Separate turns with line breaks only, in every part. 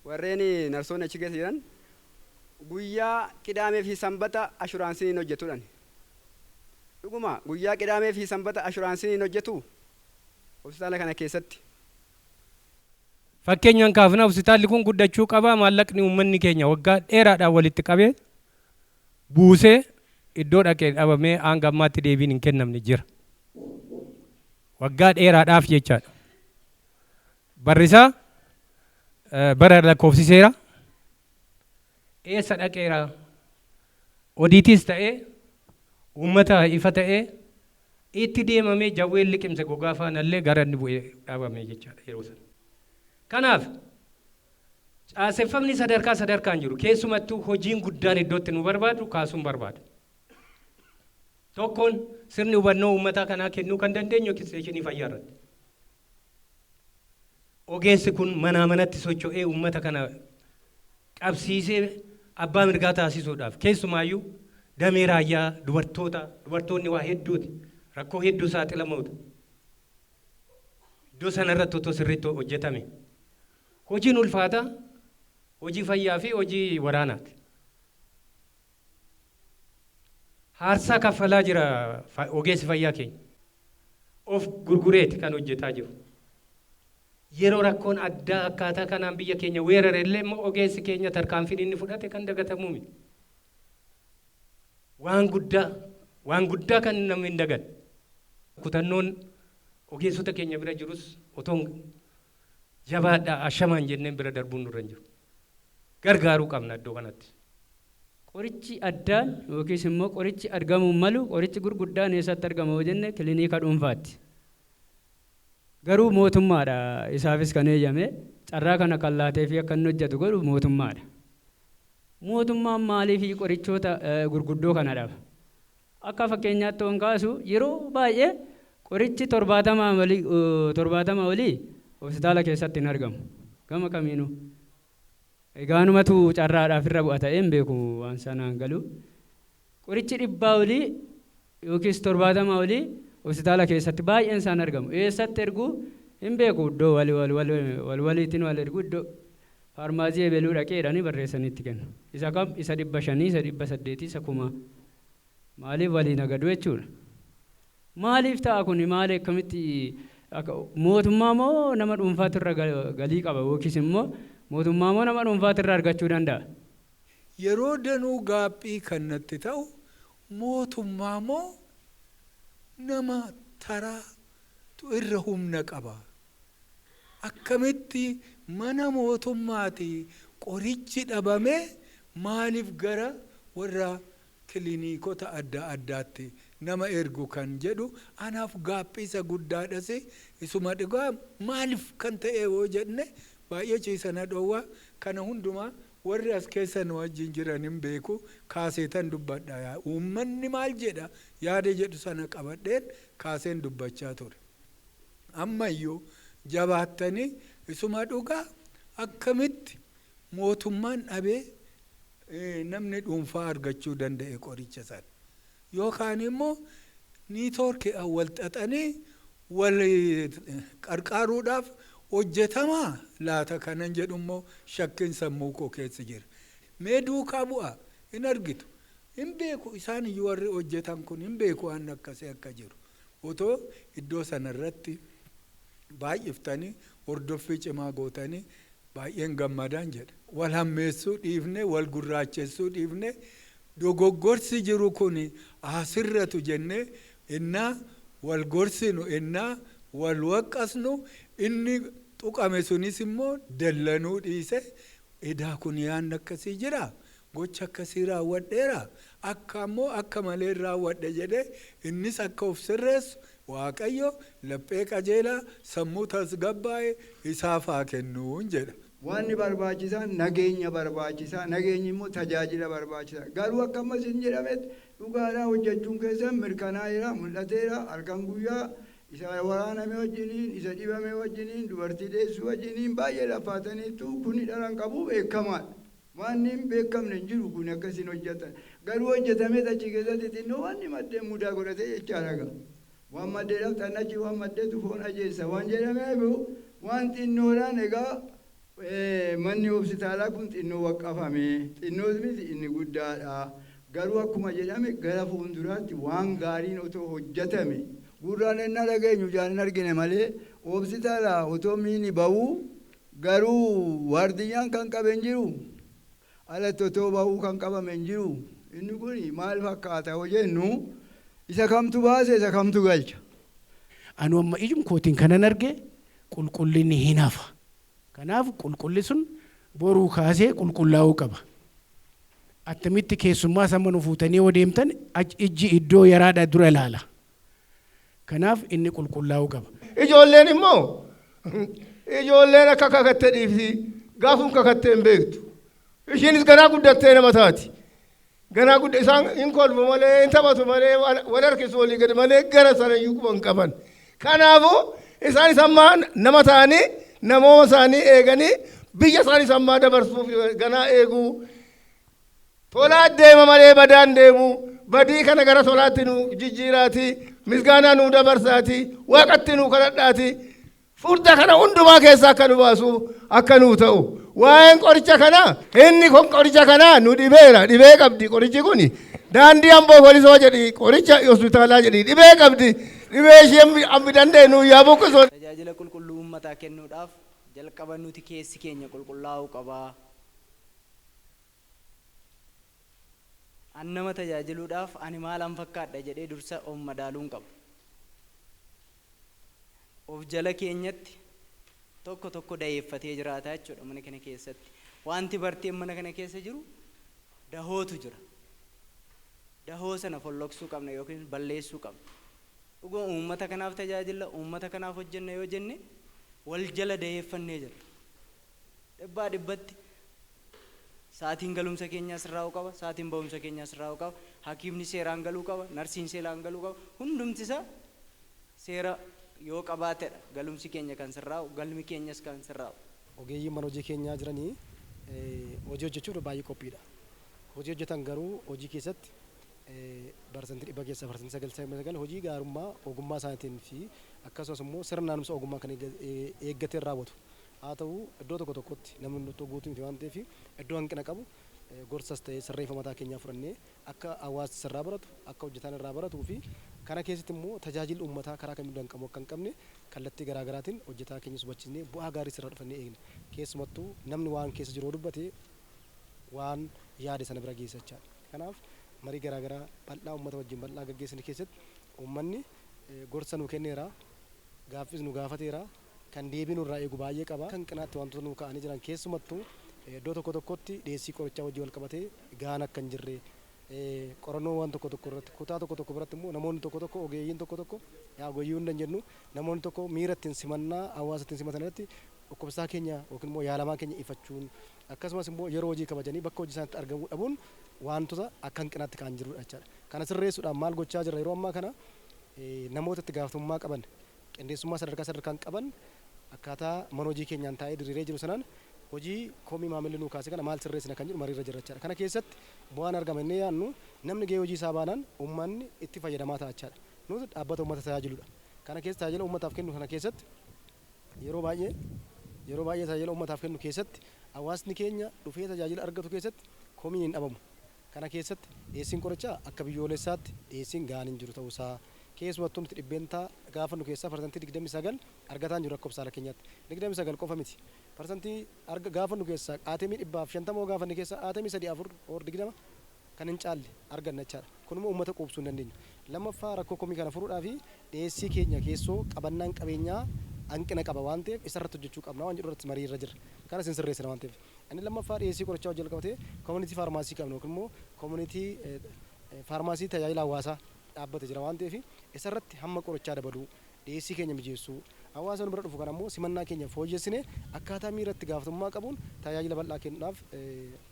Warreen narsoonni achi keessa jiran guyyaa qidaamee fi sanbata ashuraansiin hin hojjetu jedhani. Dhuguma guyyaa qidaamee fi sanbata ashuraansiin hin hojjetuu? Hositaala kana keessatti.
Fakkeenyaan kaafna, hositaalli kun guddachuu qaba, maallaqni uummanni keenya waggaa dheeraadhaan walitti qabe, buuse, iddoo dhaqe dhabamee hanga ammaatti deebiin hin kennamne jira. Waggaa dheeraadhaaf jechaadha. Barrisaa, Bara lakkoofsiseera. Eessa dhaqeera? Odiitiis ta'ee uummata ifa ta'ee itti deemamee jawween liqimse gogaa faana illee gara inni bu'e dhabame jechaadha yeroo sana. Kanaaf caaseffamni sadarkaa sadarkaan jiru keessumattuu hojiin guddaan iddoo itti nu barbaadu kaasuun barbaada. Tokkoon sirni hubannoo uummataa kanaa kennuu kan dandeenyu ekisteeshinii fayyaa irratti. Ogeessi kun manaa manatti socho'ee uummata kana qabsiisee abbaa mirgaa taasisuudhaaf keessumaayyuu damee raayyaa dubartoota dubartoonni waa hedduuti rakkoo hedduu saaxilamoodha. Iddoo sana irratti otoo sirriitti hojjetame hojiin ulfaataa hojii fayyaa fi hojii waraanaati. Haarsaa kaffalaa jira ogeessi fayyaa keenya. Of gurgureeti kan hojjetaa jiru. Yeroo rakkoon addaa akkaataa kanaan biyya keenya weerare illee immoo ogeessi keenya tarkaanfiin inni fudhate kan dagatamuu miti. Waan guddaa, waan guddaa kan namni hin daganne. Kutannoon ogeessota keenya bira jirus otoo jabaadhaa ashamaan jenneen bira darbuun nurra hin jiru. gargaaruu qabna iddoo kanatti. Qorichi
addaan yookiis immoo qorichi argamuu malu qorichi gurguddaan eessatti argama yoo jenne kiliniika dhuunfaatti. Garuu mootummaadha isaafis kan eeyyame carraa kana kan laateefii akka inni hojjatu godhu mootummaadha. Mootummaan maaliifii qorichoota gurguddoo kana dhaba? Akka fakkeenyaatti yoon kaasu yeroo baay'ee qorichi 70 olii hospitaala keessatti hin argamu. Gama kamiinuu. Egaa anumatu carraadhaaf irra bu'a ta'ee hin beeku waan isaa naan galu. Qorichi dhibbaa olii yookiis 70 olii hospitaala keessatti baay'een isaa hin argamu. Eessatti ergu hin beeku iddoo wal waliitiin wal ergu iddoo Faarmaasii ebeluu dhaqi jedhanii barreessanii itti kennu. Isa kam? Isa dhibba shanii, isa dhibba saddeetii, isa kumaa. Maaliif walii nagadu jechuudha. Maaliif ta'a kuni? Maali akkamitti akka mootummaa moo nama dhuunfaatu irra galii qaba yookiis immoo mootummaa moo nama dhuunfaatu irra argachuu danda'a? Yeroo
danuu gaaphii kan natti ta'u mootummaa moo nama taraa tu irra humna qaba? Akkamitti mana mootummaati qorichi dhabame maaliif gara warra kiliniikota adda addaatti nama ergu kan jedhu anaaf gaaffii isa guddaadhas isuma dhugaa maaliif kan ta'e yoo jenne baay'ee ciisa na dhoowwa kana hundumaa warri as keessa nu wajjin jiran hin beeku kaaseetan dubbadha uummanni maal jedha yaada jedhu sana qabadheen kaaseen dubbachaa ture. Ammayyuu jabaattanii isuma dhugaa akkamitti mootummaan dhabee namni dhuunfaa argachuu danda'e qoricha sana? Yookaan immoo niitoorkiidhaan wal xaxanii wal qarqaaruudhaaf hojjetamaa laata kanan jedhu immoo shakkiin sammuu koo keessa jira. Mee duukaa bu'aa hin argitu. Hin beeku isaan iyyuu warri hojjetan kun hin beeku waan akkasii akka jiru. Otoo iddoo sana irratti baay'iftanii hordoffii cimaa gootanii baay'een gammadan jedha. Wal hammeessuu dhiifnee, wal gurraachessuu dhiifnee dogoggorsi jiru kun haa sirratu jennee ennaa wal gorsinu, ennaa wal waqqasnu inni tuqame sunis immoo dallanuu dhiisee edaa kun yaanni akkasii jiraa? Gocha akkasii raawwadheeraa? Akka immoo akka maleen raawwadhe jedhee innis akka of sirreessu Waaqayyo laphee qajeelaa, sammuu tasgabbaa'e isaaf haa kennuun jedha. Waanni barbaachisaan
nageenya barbaachisa, nageenyi immoo tajaajila barbaachisa. Garuu akka amma isin jedhametti dhugaadhaa hojjechuun keessan mirkanaa'eera, mul'ateera, halkan guyyaa isa waraaname wajjiniin, isa dhibame wajjiniin, dubartii deessuu wajjiniin baay'ee laffaataniittu, kuni dhara hin qabu, beekamaadha. Waanni hin beekamne hin jiru kun akka isin hojjattan. Garuu hojjatameet achi keessatti xinnoo waanni maddeen mudaa godhate jechaadha gaa. Waan maddeedhaaf xannachi waan maddeetu foon ajeessa waan jedhameef waan xinnoodhaan egaa manni hospitaalaa kun xinnoo waqqafame. Xinnoos miti inni guddaadha. Garuu akkuma jedhame gara fuunduraatti waan gaariin otoo hojjatame. Gurraan ennaa dhageenyu ijaan hin argine malee hospitaala otoo miini ba'uu Garuu waardiyyaan kan qabe hin jiru, alatti otoo bahuu kan qabame hin jiru. Inni kun maal fakkaata yoo jennu, isa kamtu baasa isa kamtu galcha? Anu
amma ijum kootiin kanan arge qulqulli ni hin hafa. Kanaaf qulqulli sun boruu kaasee qulqullaa'uu qaba. Attamitti keessummaas amma nu fuutanii yoo deemtan ijji iddoo yaraadha dura ilaala. Kanaaf inni qulqullaa'uu qaba. Ijoolleen immoo,
Ijoolleen akka kakatte dhiifti, gaafum kakatte hin beektu. Ishiinis ganaa guddattee nama taati. Ganaa gudda isaan hin kolfu malee, hin taphatu malee, wal wal harkisu olii gadi malee gara sana iyyuu quba hin qaban. Kanaafuu isaanis amma nama ta'anii namooma isaanii eeganii biyya isaanis ammaa dabarsuuf ganaa eeguu. Tolaa deema malee badaan deemu. Badii kana gara tolaatti nu jijjiiraati. Misgaanaa nuu dabarsaati. Waaqatti nuu kadhadhaati. Furda kana hundumaa keessa akka nu baasu akka nuu ta'u. Waa'een qoricha kanaa inni kun qoricha kanaa nu dhibeera. Dhibee qabdi qorichi kun. Daandii amboo polisoo jedhi qoricha hospitaalaa jedhi dhibee qabdi. Dhibee ishee ammi dandeenyu yaa buqqisu. Tajaajila qulqulluu
uummataa kennuudhaaf jalqaba nuti keessi keenya qulqullaa'uu qaba. An nama tajaajiluudhaaf ani maalan fakkaadha jedhee dursa of madaaluun qaba. Of jala keenyatti tokko tokko daheeffatee jiraata jechuudha mana kana keessatti. Waanti barteen mana kana keessa jiru dahootu jira. Dahoo sana folloksuu qabna yookiin balleessuu qabna. Dhuguma uummata kanaaf tajaajilla, uummata kanaaf hojjenna yoo jenne wal jala daheeffannee jirra. Dhibbaa dhibbatti sa'atiin galumsa keenyaa sirraa'uu qaba, sa'atiin ba'umsa keenyaa sirraa'uu qaba, hakiimni seeraan galuu qaba, narsiin seeraan galuu qaba, hundumti isaa seera yoo qabaatedha galumsi keenya kan sirraa'u, galmi keenyas kan sirraa'u. Ogeeyyiin mana hojii
keenyaa jiran hojii hojjechuuf baay'ee qophiidha. Hojii hojjetan garuu hojii keessatti parsantii dhibba keessaa parsantii 99 hojii gaarummaa ogummaa isaaniitiin fi akkasumas immoo sirna haaromsa ogummaa kan eeggateen raawwatu. Haa ta'u iddoo tokko tokkotti namni hunduttuu guutuu miti waan ta'eef iddoo hanqina qabu gorsas ta'ee sirreefa mataa keenyaa fudhannee akka hawaasti sirraa baratu, akka hojjetaan irraa baratuu fi kana keessatti immoo tajaajilli uummataa karaa kamiinuu danqamuu akka hin qabne kallattii garaa garaatiin hojjetaa keenyas hubachiisnee bu'aa gaariis irraa dhufannee eegna. Keessumattuu namni waan keessa jiru yoo dubbate waan yaade sana bira geessa jechaa dha. Kanaaf marii garaa garaa bal'aa uummata wajjin bal'aa gaggeessine keessatti uummanni gorsa nuu kenneera, gaaffiis nu gaafateera. Kan deebii nurraa eegu baay'ee qaba. Akka hanqinaatti waantota nuu ka'anii jiran keessumattuu iddoo tokko tokkotti dhiyeessii qorichaa wajjin walqabatee gahaan akka hin jirre, qorannoowwan tokko tokko irratti kutaa tokko tokko biratti immoo namoonni tokko tokko ogeeyyiin tokko tokko yaa ogeeyyii hunda hin jennu namoonni tokko miira ittiin simannaa hawaasa ittiin simatan irratti dhukkubsataa keenya yookiin immoo yaalamaa keenya ifachuun akkasumas immoo yeroo hojii kabajanii bakka hojii isaaniitti argamuu dhabuun waantota akka hanqinaatti ka'an jirudha jechaadha. Kana sirreessuudhaaf maal gochaa jirra yeroo ammaa kana namoota itti gaafatamummaa qaban qindeessummaa sadarkaa sadarkaan qaban akkaataa mana hojii keenyaan taa'ee diriiree jiru sanaan hojii komii maamilli nuu kaase kana maal sirreessina kan jedhu mariirra jirra jechaadha. Kana keessatti bu'aan argama jennee yaadnu namni gahee hojii isaa baanaan ummanni itti fayyadamaa ta'a jechaadha. Nuti dhaabbata ummata tajaajiludha. Kana keessa tajaajila ummataaf kennu kana keessatti yeroo baay'ee yeroo baay'ee tajaajila ummataaf kennu keessatti hawaasni keenya dhufee tajaajila argatu keessatti komiin hin dhabamu. Kana keessatti dhiyeessiin qorichaa akka biyyoolessaatti dhiyeessiin gahaan hin jiru ta'uu isaa, keessumattuu nuti dhibbeentaa gaafannu keessaa parsantii 29 argataa hin jiru akka hopsaala keenyaatti. 29 qofa miti. Parsantii arga gaafannu keessaa aatemii 150 yoo gaafanne keessaa aatemii 3, 4 or 20 kan hin caalle arganna jechaa dha. Kun immoo uummata quubsuu hin dandeenyu. Lammaffaa rakkoo komii kana furuudhaafi dhiyeessii keenya keessoo qabannaan qabeenyaa hanqina qaba waan ta'eef isa irratti hojjechuu qabna waan jedhu irratti marii irra jirra. Kanas hin sirreessina waan ta'eef. Inni lammaffaa dhiyeessii qorichaa wajjin walqabatee community pharmacy qabna yookiin immoo community pharmacy tajaajila hawaasaa dhaabbate jira waan ta'eef isarratti hamma qorichaa dabaluu, dhiyeessii keenya mijeessuu, hawaasa nu bira dhufu kana immoo simannaa keenya fooyyessinee akkaataa miira itti gaafatamummaa qabuun tajaajila bal'aa kennuudhaaf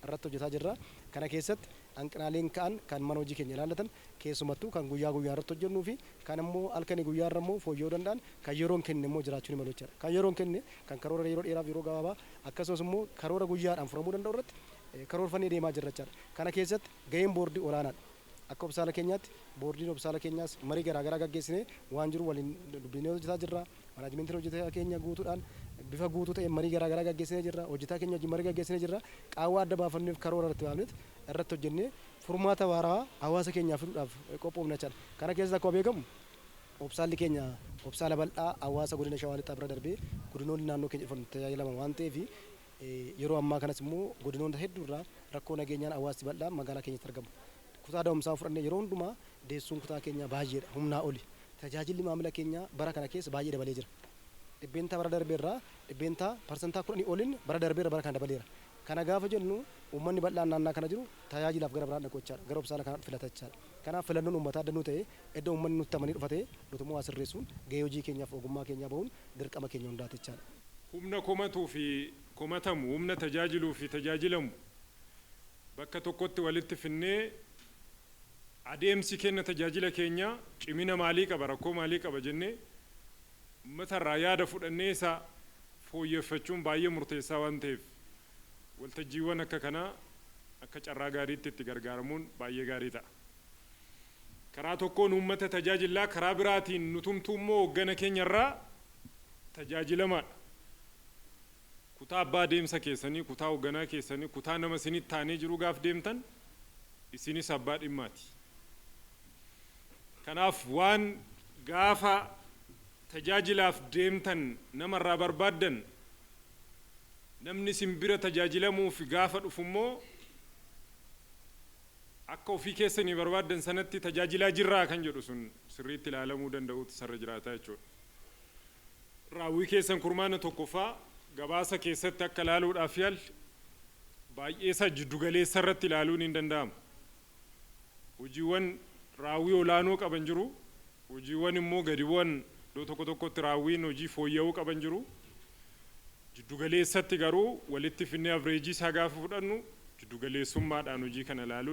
irratti hojjetaa jirra. Kana keessatti hanqinaaleen ka'an kan mana hojii keenya ilaallatan keessumattuu kan guyyaa guyyaan irratti hojjennuu fi kan immoo halkanii guyyaa irra immoo fooyya'uu danda'an kan yeroon kenne immoo jiraachuu ni malu jechaadha. Kan yeroon kenne kan karoora yeroo dheeraaf yeroo gabaabaa Akkasumas immoo karoora guyyaadhaan furamuu danda'u irratti karoorfannee deemaa jirra jechaadha. Kana keessatti gaheen boordii olaanaadha. Akka hopsaala keenyaatti boordiin hopsaala keenyaas marii garaa garaa gaggeessinee waan jiru waliin dubbisnee hojjetaa jirra. Manaajimentiin hojjetaa keenya guutuudhaan bifa guutuu ta'een marii garaa garaa gaggeessinee jirra. Hojjetaa keenya wajjin marii gaggeessinee jirra. Qaawwa adda baafanneef karoora irratti baafneet irratti hojjennee furmaata waarawaa hawaasa keenyaaf fiduudhaaf qophoofna jechaadha. Kana keessatti akkuma beekamu Obsaalli keenya obsaala bal'aa hawaasa Godina Shawaa Lixaa bira darbee godinoonni naannoo keenya dhufan itti tajaajilaman waan ta'eef yeroo ammaa kanas immoo godinoonta hedduu irraa rakkoo nageenyaan hawaasti bal'aan magaalaa keenyatti argama. Kutaa da'umsaa yoo fudhanne yeroo hundumaa deessuun kutaa keenyaa baay'eedha, humnaa oli. Tajaajilli maamila keenyaa bara kana keessa baay'ee dabalee jira. Dhibbeentaa bara darbe irraa dhibbeentaa, parsantaa, 10 oliin bara darbe irra bara kana dabaleera. Kana gaafa jennu uummanni bal'aan naannaa kana jiru tajaajilaaf gara biraan dhaqu jechaadha. Gara obsaala kanaa filata jechaadha. Kanaaf filannoon uummataa adda nuu ta'ee eddo uummanni nutti amanee dhufatee nutummoo waa sirreessuun gahee hojii keenyaaf ogummaa keenyaa bahuun dirqama keenya hundaati jechaadha. Humna komatuu
fi komatamu, humna tajaajiluu fi tajaajilamu bakka tokkotti walitti finnee adeemsi kenna tajaajila keenyaa cimina maalii qaba, rakkoo maalii qaba jennee uummata irraa yaada fudhannee isa fooyyeffachuun baay'ee murteessaa waan ta'eef Waltajjiiwwan akka kanaa akka carraa gaariitti itti gargaaramuun baay'ee gaarii ta'a. Karaa tokkoon uummata tajaajillaa karaa biraatiin nutumtuu immoo hooggana keenya irraa tajaajilamaadha. Kutaa abbaa adeemsa keessanii, kutaa hoogganaa keessanii, kutaa nama isinitti aanee jiruu gaaf deemtan isinis abbaa dhimmaati. Kanaaf waan gaafa tajaajilaaf deemtan nama irraa barbaaddan Namni isin bira tajaajilamuuf gaafa dhufu immoo akka ofii keessanii barbaaddan sanatti tajaajilaa jirraa kan jedhu sun sirriitti ilaalamuu danda'uutu isarra jiraata jechuudha. Raawwii keessan kurmaana tokkoffaa gabaasa keessatti akka ilaaluudhaaf yaalle baay'eesaa jiddugaleessa irratti ilaaluun hin danda'amu. Hojiiwwan raawwii olaanoo qaban jiru, hojiiwwan immoo gadi bu'an iddoo tokko tokkotti raawwiin hojii fooyya'uu qaban jiru. Jiddugaleessatti garuu walitti fidnee avreejii isaa gaafa fudhannu jiddugaleessummaadhaan hojii kana ilaaluun.